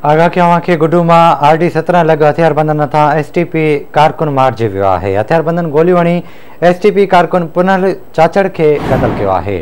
آگاهه ڪيو اوهان کي گڊو مان آر ڊي سترهن لڳ هٿياربندن هٿان ايس ٽي پي ڪارڪن مارجي ويو آهي هٿياربندن گوليون هڻي ايس ٽي پي ڪارڪن پنهل چاچڙ کي قتل ڪيو آهي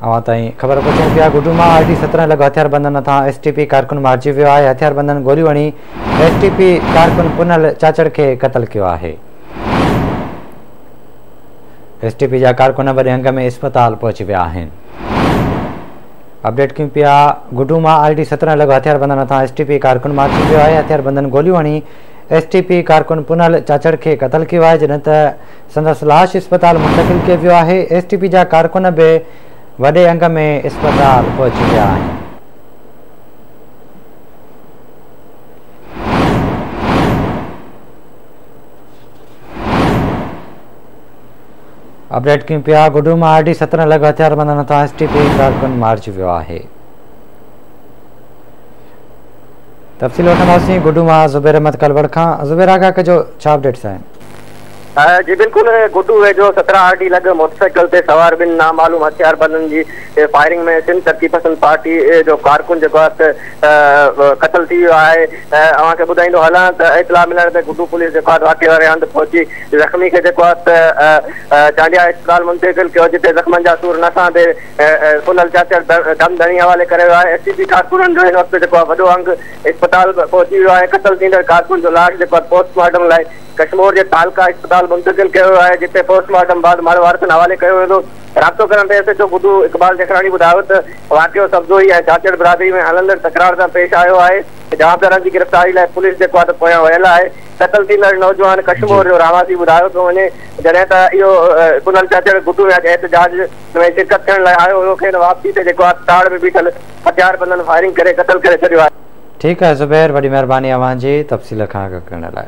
اوهان تائين خبر پهچون پيا گڊو مان آر ڊي سترهن لڳ هٿياربندن هٿان ايس ٽي پي ڪارڪن مارجي ويو آهي هٿياربندن گوليون هڻي ايس ٽي پي ڪارڪن پنهل چاچڙ کي قتل ڪيو آهي ايس ٽي پي جا ڪارڪن وڏي انگ ۾ اسپتال پهچي ويا آهن اپڊيٽ ڪيون پيا گڊو مان آر ڊي سترهن لڳ هٿيار بندن هٿان ايس ٽي پي ڪارڪن مارجي ويو آهي هٿيار بندن گوليون هڻي ايس ٽي پي ڪارڪن پنهل چاچڙ کي قتل ڪيو آهي جڏهن ته سندس لاش اسپتال منتقل ڪيو ويو آهي ايس ٽي پي جا ڪارڪن به وڏي انگ ۾ اسپتال پهچي ويا آهن اپڊيٽ ڪيون پيا گڊو مان آر ڊي سترهن لڳ هٿياربندن هٿان ايس ٽي پي ڪارڪن مارجي ويو آهي تفصيل وٺنداسين گڊو مان زبير احمد ڪلوڙ کان زبير آگاهه ڪجو ڇا اپڊيٽس آهن جي بلڪل گڊو ويجهو سترهن آر ڊي لڳ موٽرسائيڪل تي سوار ٻن نامعلوم هٿياربندن جي فائرنگ ۾ سنڌ ترقي پسند پارٽي جو ڪارڪن جيڪو آهي قتل ٿي ويو آهي اوهان کي ٻڌائيندو هلان ته اطلاع ملڻ تي گڊو پوليس جيڪو آهي واقعي واري هنڌ پهچي زخمي کي جيڪو آهي ته چانڊيا اسپتال منتقل ڪيو جتي زخمن جا سور نه سهندي سونل چاچڙ دم ڌڻي حوالي ڪري ويو آهي ايس ٽي سي ڪارڪنن جو هن وقت جيڪو آهي وڏو انگ اسپتال پهچي ويو آهي قتل ٿيندڙ ڪارڪن جو لاش جيڪو آهي پوسٽ مارٽم لاء ڪشمور جي تعلقه اسپتال منتقل ڪيو ويو آهي جتي پوسٽ مارٽم بعد مڙهه وارثن حوالي ڪيو ويندو رابطو ڪرڻ تي S H O Guddu Iqbal Jakhrani ٻڌايو ته واقعو سبزوئي ۽ چاچڙ برادري ۾ هلندڙ تڪرار سان پيش آيو آهي جوابدارن جي گرفتاري لاء پوليس جيڪو آهي ته پويان ويل آهي قتل ٿيندڙ نوجوان ڪشمور جو رهواسي ٻڌايو ٿو وڃي، جڏهن ته اهو ڪنل چهچڙ گهٽو ۾ اڄ احتجاج ۾ شرڪت ٿيڻ لاء آيو هيو، کين واپسي تي جيڪو آهي تاڙ ۾ بيٺل هٿياربندن فائرنگ ڪري قتل ڪري ڇڏيو آهي. ٺيڪ آهي زبير وڏي مهرباني اوهان جي تفصيل کان آگاهه ڪرڻ لاء.